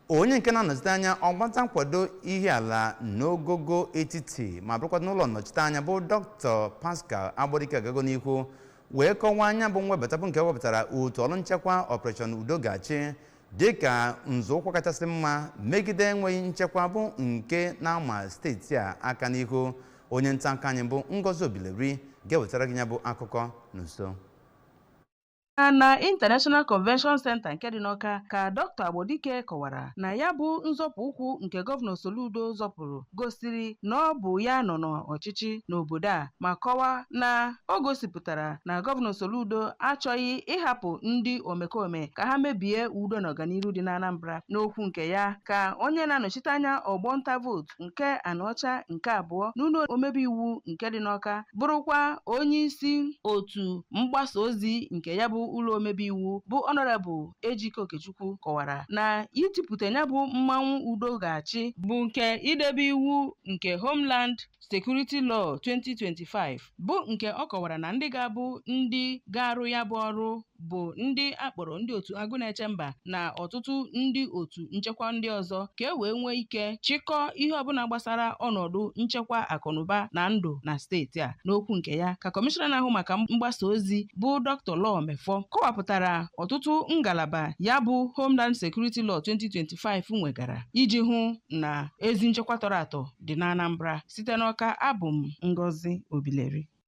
onye nke na-anọchite anya ọgbata nkwado ihiala n'ogogo etiti ma bụrụkwa n'ụlọ nnọchite anya bụ dr pascal agbodike agago n'ihu wee kọwaa na ya bụ mwebata bụ nke webatara otu ọrụ nchekwa operation udo ga-achị dịka nzọụkwụ kachasị mma megide enweghị nchekwa bụ nke na-ama steeti a aka n'ihu onye nta akụkọ anyị bụ ngozi obileri ga-ewetara gị ya bụ akụkọ n'uso na International Convention Center nke dị n'Ọka ka Dr. Agbodike kọwara na ya bụ nzọpụ ụkwụ nke gọvanọ Soludo zọpụrụ gosiri na ọ bụ ya nọ n'ọchịchị n'obodo a ma kọwaa na o gosipụtara na gọvanọ Soludo achọghị ịhapụ ndị omekome ka ha mebie udo na ọganiru dị n'Anambra n'okwu nke ya ka onye na-anọchite anya ọgbọ nta vootu nke Anaọcha nke abụọ n'ụlọ omebe iwu nke dị n'Ọka bụrụkwa onye isi otu mgbasa ozi nke ya bụ ụlọ omebe iwu bụ ọnọrebụl Ejike Okechukwu kọwara na itipụta ya bụ mmanwụ udo ga-achị bụ nke idebe iwu nke Homeland Security Law 2025 bụ nke ọ kọwara na ndị ga-abụ ndị ga-arụ ya bụ ọrụ bụ ndị a kpọrọ ndị otu agụ na-eche mba na ọtụtụ ndị otu nchekwa ndị ọzọ ka e wee nwee ike chịkọọ ihe ọbụla gbasara ọnọdụ nchekwa akụnụba na ndụ na steeti a n'okwu nke ya ka kọmishọna na-ahụ maka mgbasa ozi bụ dr law mefor kọwapụtara ọtụtụ ngalaba ya bụ homeland security law 2025 nwegara iji hụ na ezi nchekwa tọrọ atọ dị n'Anambra. Site n'Awka, abụ m Ngozi Obileri.